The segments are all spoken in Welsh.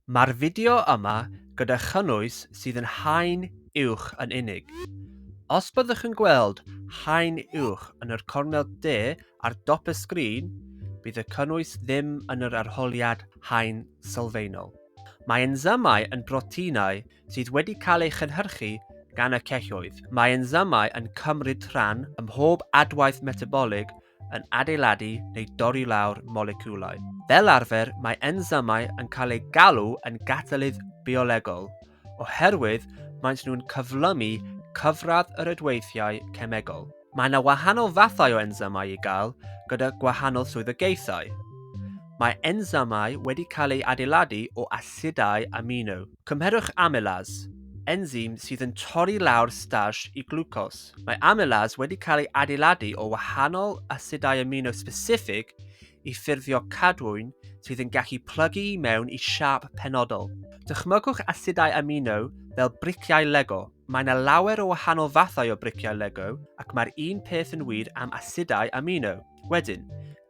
Mae'r fideo yma gyda chynnwys sydd yn haen uwch yn unig. Os byddwch yn gweld haen uwch yn yr cornel de ar dop y sgrin, bydd y cynnwys ddim yn yr arholiad haen sylfaenol. Mae ensymau yn broteinau sydd wedi cael eu chynhyrchu gan y celloedd. Mae ensymau yn cymryd rhan ym mhob adwaith metabolig yn adeiladu neu dorri lawr moleciwlau. Fel arfer, mae ensymau yn cael eu galw yn gatalydd biolegol, oherwydd maent nhw'n cyflymu cyfradd yr ydweithiau cemegol. Mae yna wahanol fathau o ensymau i gael gyda gwahanol swyddogaethau. Mae ensymau wedi cael eu adeiladu o asidau amino. Cymherwch amylase, ensym sydd yn torri lawr starch i glwcos. Mae amylase wedi cael ei adeiladu o wahanol asidau amino specific i ffurfio cadwyn sydd yn gallu plygu i mewn i siâp penodol. Dychmygwch asidau amino fel briciau Lego. Mae yna lawer o wahanol fathau o briciau Lego ac mae'r un peth yn wir am asidau amino. Wedyn,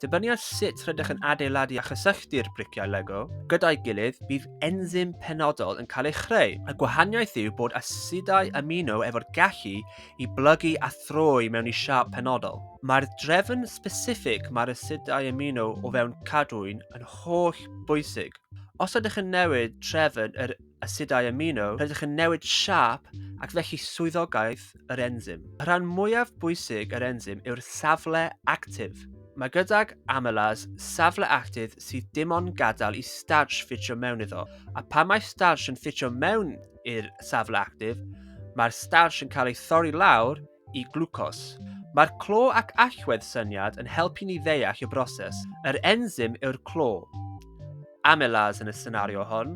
dibynnu ar sut rydych yn adeiladu a chysylltu'r briciau Lego gyda'i gilydd, bydd enzym penodol yn cael ei chreu. Y gwahaniaeth yw bod asidau amino efo'r gallu i blygu a throi mewn i siâp penodol. Mae'r drefn sbesiffig mae'r asidau amino o fewn cadwyn yn holl bwysig. Os ydych yn newid trefn yr asidau amino, rydych yn newid siâp ac felly swyddogaeth yr enzym. Y rhan mwyaf bwysig yr enzym yw'r safle actif. Mae gydag amylase safle actif sydd dim ond gadael i starch ffitio mewn iddo, a pan mae starch yn ffitio mewn i'r safle actif, mae'r starch yn cael ei thorri lawr i glwcos. Mae'r clo ac allwedd syniad yn helpu ni ddeall y broses. Yr enzym yw'r clo. Amylase yn y senario hon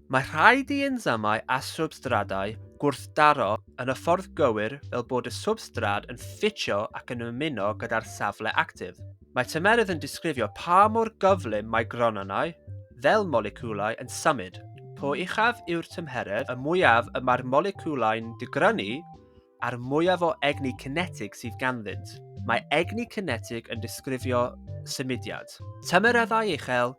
Mae rhai diensamau a swbstradau gwrthdaro yn y ffordd gywir fel bod y swbstrad yn ffitio ac yn ymuno gyda'r safle actif. Mae tymerydd yn disgrifio pa mor gyflym mae gronynnau, fel moleciwlau, yn symud. Po uchaf yw'r tymheredd, y mwyaf y mae'r moleciwlau'n digrynu a'r mwyaf o egni cinetig sydd ganddynt. Mae egni cinetig yn disgrifio symudiad. Tymereddau uchel,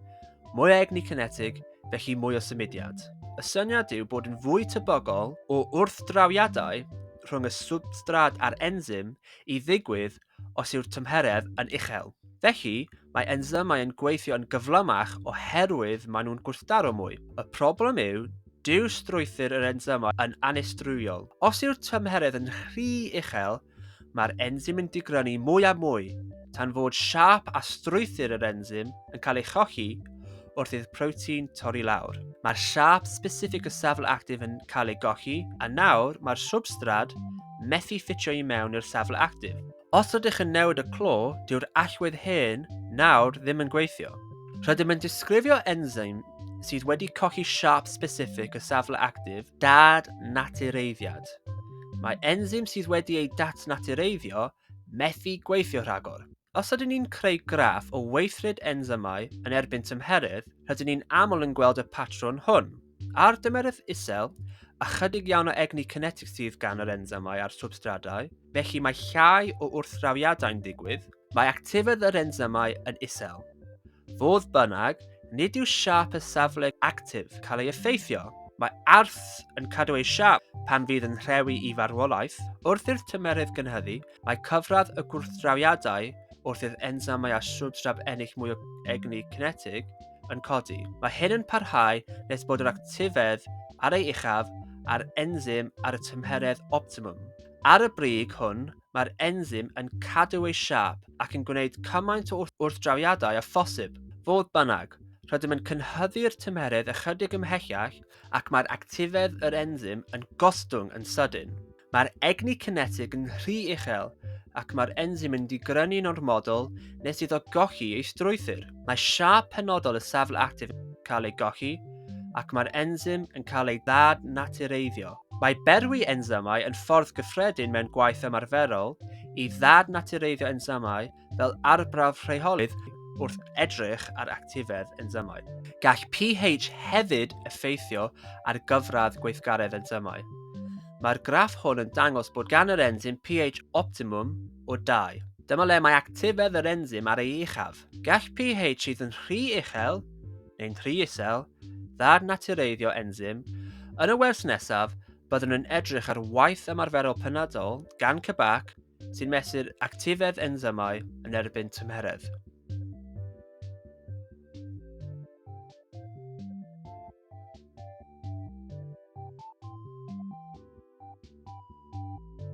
mwy o egni cinetig, felly mwy o symudiad. Y syniad yw bod yn fwy tebygol o wrthdrawiadau rhwng y swbstrad a'r enzym i ddigwydd os yw'r tymheredd yn uchel. Felly, mae ensymau yn gweithio yn gyflymach oherwydd maen nhw'n gwrthdaro mwy. Y problem yw, dyw strwythur yr ensymau yn annistrywol. Os yw'r tymheredd yn rhy uchel, mae'r ensym yn digrynu mwy a mwy, tan fod siâp a strwythur yr ensym yn cael ei cholli, wrth i'r protein torri lawr. Mae'r siâp specific o safl actif yn cael ei golli, a nawr mae'r swbstrad methu ffitio i mewn i'r safl actif. Os rydych yn newid y clo, dyw'r allwedd hen nawr ddim yn gweithio. Rydym yn disgrifio enzyme sydd wedi colli siâp specific o safle actif dad-natureiddiad. Mae enzyme sydd wedi ei datnatureiddio Methu gweithio rhagor. Os ydyn ni'n creu graff o weithred ensymau yn erbyn tymheredd, rydyn ni'n aml yn gweld y patrwn hwn. Ar dymeredd isel, ychydig iawn o egni cinetig sydd gan yr ensymau a'r swbstradau, felly mae llai o wrthdrawiadau'n digwydd, mae actifedd yr ensymau yn isel. Fodd bynnag, nid yw siâp y safle actif cael ei effeithio. Mae arth yn cadw ei siâp pan fydd yn rhewi i farwolaeth. Wrth i'r tymerydd gynhyddu, mae cyfradd y gwrthdrawiadau wrth i'r ensamau a swbstrab ennill mwy o egni cinetig yn codi. Mae hyn yn parhau nes bod yr actifedd ar ei uchaf a'r enzym ar y tymheredd optimwm. Ar y brig hwn, mae'r enzym yn cadw ei siâp ac yn gwneud cymaint o wrthdrawiadau â phosib. Fodd bynnag, rydym yn cynhyddu'r tymeredd ychydig ymhellach ac mae'r actifedd yr enzym yn gostwng yn sydyn. Mae'r egni cinetig yn rhy uchel ac mae'r enzym yn digrynu'n ormodol nes iddo golli ei strwythur. Mae siâp penodol y safle actif yn cael ei golli ac mae'r enzym yn cael ei ddad-natureiddio. Mae berwi ensymau yn ffordd gyffredin mewn gwaith ymarferol i ddad-natureiddio ensymau fel arbrawf rheolydd wrth edrych ar actifedd ensymau. Gall pH hefyd effeithio ar gyfradd gweithgaredd ensymau. Mae'r graff hwn yn dangos bod gan yr ensym pH optimwm o 2. Dyma le mae actifedd yr ensym ar ei uchaf. Gall pH sydd yn rhy uchel neu'n rhy isel, dda'r natureiddio enzym, yn y wers nesaf, byddwn yn edrych ar waith ymarferol penodol gan CBAC sy'n mesur actifedd enzymau yn erbyn tymheredd.